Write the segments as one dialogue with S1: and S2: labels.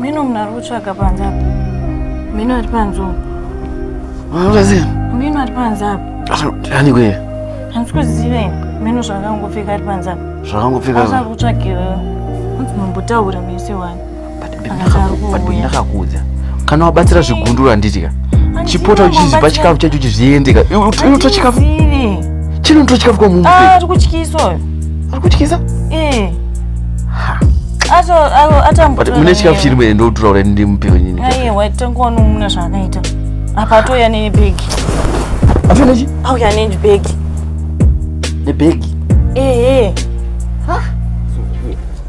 S1: Mino munhu ari kutsvaga panze apa. Mino ari panze umu. Mino ari panze apa. Ani kwe? Handisi kuziva ini. Mino zvakangopfeka ari panze apa. Zvakangopfeka. Asi ari kutsvagira. Hanzi mambotaura mese wani. ndakakuudza kana wabatsira zvigunduru handitya chipota uchiziva chikafu chacho chizviendeka unoto chikafu chino unoto chikafu kwa mumbe ah, ari kutyisa uyo ari kutyisa eh. mune chikafu chiri mwene ndotura ura ndi mupiwe nyini aye waitangowani mune zvaakaita apa atouya nebhegi afinechi auya nebhegi nebhegi ehe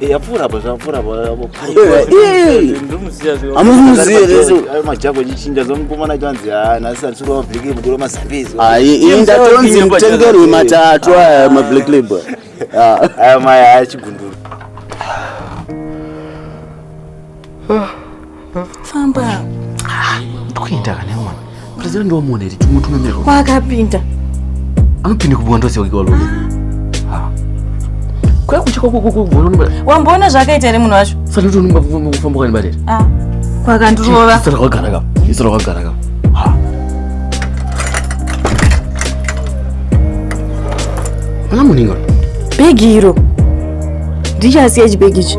S1: yapfuura apa zvapfuura apamajako chichinja zomukomana chanzi nhasi atisura mablack label kura mazambizi ndatonzi mutengerwe matatu aya mablack label aya maya achigundura famba ndokuenda kana mwana president ndomuona iri tumutumemerwa kwakapinda anopinda kubwa ndose wake walo ah. kwa kucha kwa kwa kwa wamboona zvakaita ere munhu wacho sati tonumba kufamba kwani barere ah kwakandirova isara kwagara ka isara kwagara ka ha ana muninga bhegi iro ndichasiya chibhegi ichi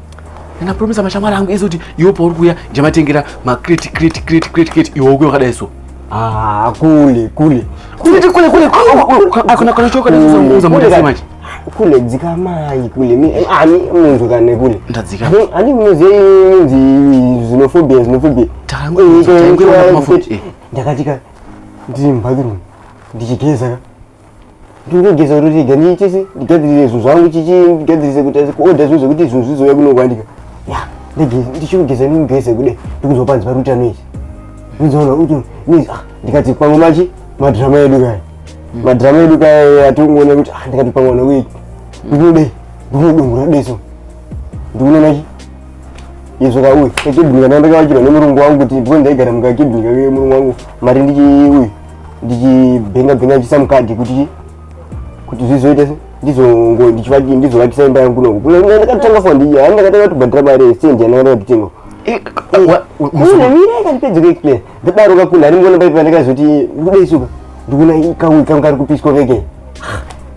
S1: ndinapromisa mashamwari angu ese kuti iwe pauri kuuya ndichamatengera macrate crate crate crate crate iwe ukuya wakadai so ah, kule kule kule kule kule kana kana choka ndazozunguza muda sei manje kule dzika mai kule mi eh, ani munhu kana kule ndadzika ani muzi muzi xenophobia xenophobia tangu tangu mafuti ndakatika ndiri mbathroom ndichigeza ndinogeza kuti ndiga ndiitise ndigadzirise zvinhu zvangu chichi ndigadzirise kuti kuodha zvinhu zvekuti zvinhu zvizouya kunokwanika ya ndichikugeza ndikugeze kude ndikuziva panzi pari kuita noise ndizoona kuti noise ah ndikati pamwe machi madrama edu kaya hmm. madrama edu kaya atongoona kuti ah ndikati pamwe ona wei ndikunode ndikunodongora deso ndikuona machi izvo ka uyu kakibhinika ndandakavakirwa nemurungu wangu kuti ndipo ndaigara mukakibhinika kemurungu wangu mari ndichi uyu ndichibhenga bhenga ndichiisa mukadhi kuti kuti zvizoite ndizongo ndichivaki ndizovakisa imba yangu kunoku kule ndakatanga fwa ndiye hani ndakatanga kubhadhara mari yestendi yandakatanga kutenga kune mira ikandipedza kuexplain ndadaro kakuna hari mngona paipa ndakazoti kudai suka ndikuna kauikanga kari kupiswa keke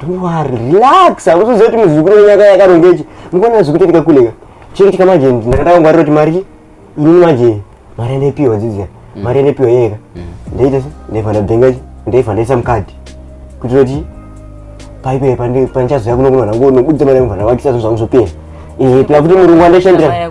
S1: Don't worry, relax. Hakuzoziva kuti muzukuru wenyu akaya akarongechi. Mukuona zvikutoitika kule ka. Chiri kuitika manje ndakatanga kungwarira kuti mari chi? Inini manje mari yandaipihwa dzidziya. Mm. Mari yandaipihwa yeka. Mm. Ndaita se ndaiva ndabhenga chi? Ndaiva ndaisa mukadhi. Kuti kuti paipe pande panchazo yakuno kuno nangu nobudza mari yangu vanavakisa zvangu zvopera. Eh, pla kuti murungu andashandira.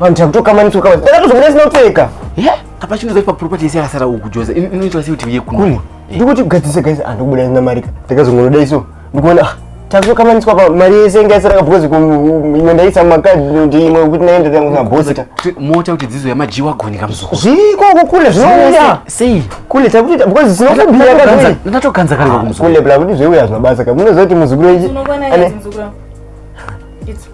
S1: Vanhu takutoka mani toka mani. Ndakatozo mune sina uteka. Yeah. Apa chinoza pa property yese yakasara uku Joza. Inoitwa sei kuti uye kuno? Kuno. Ndikuti kugadzisa guys and kubuda ina mari. Ndakazongona dai so. Ndikuona ah takutoka mani toka mari yese inga yasara because ku ino ndaisa makadi ndi imwe kuti naenda tangu na boss ta. Mota kuti dzizo yama jiwa goni kamzuko. Zviko kukule zvinoya. Sei. Kule takuti because sino kubira kaka. Ndatokanza kale kumzuko. Kule bla kuti zveuya zvabasa kaka. Munozoti muzukuru ichi. Unogona ichi muzukuru. It's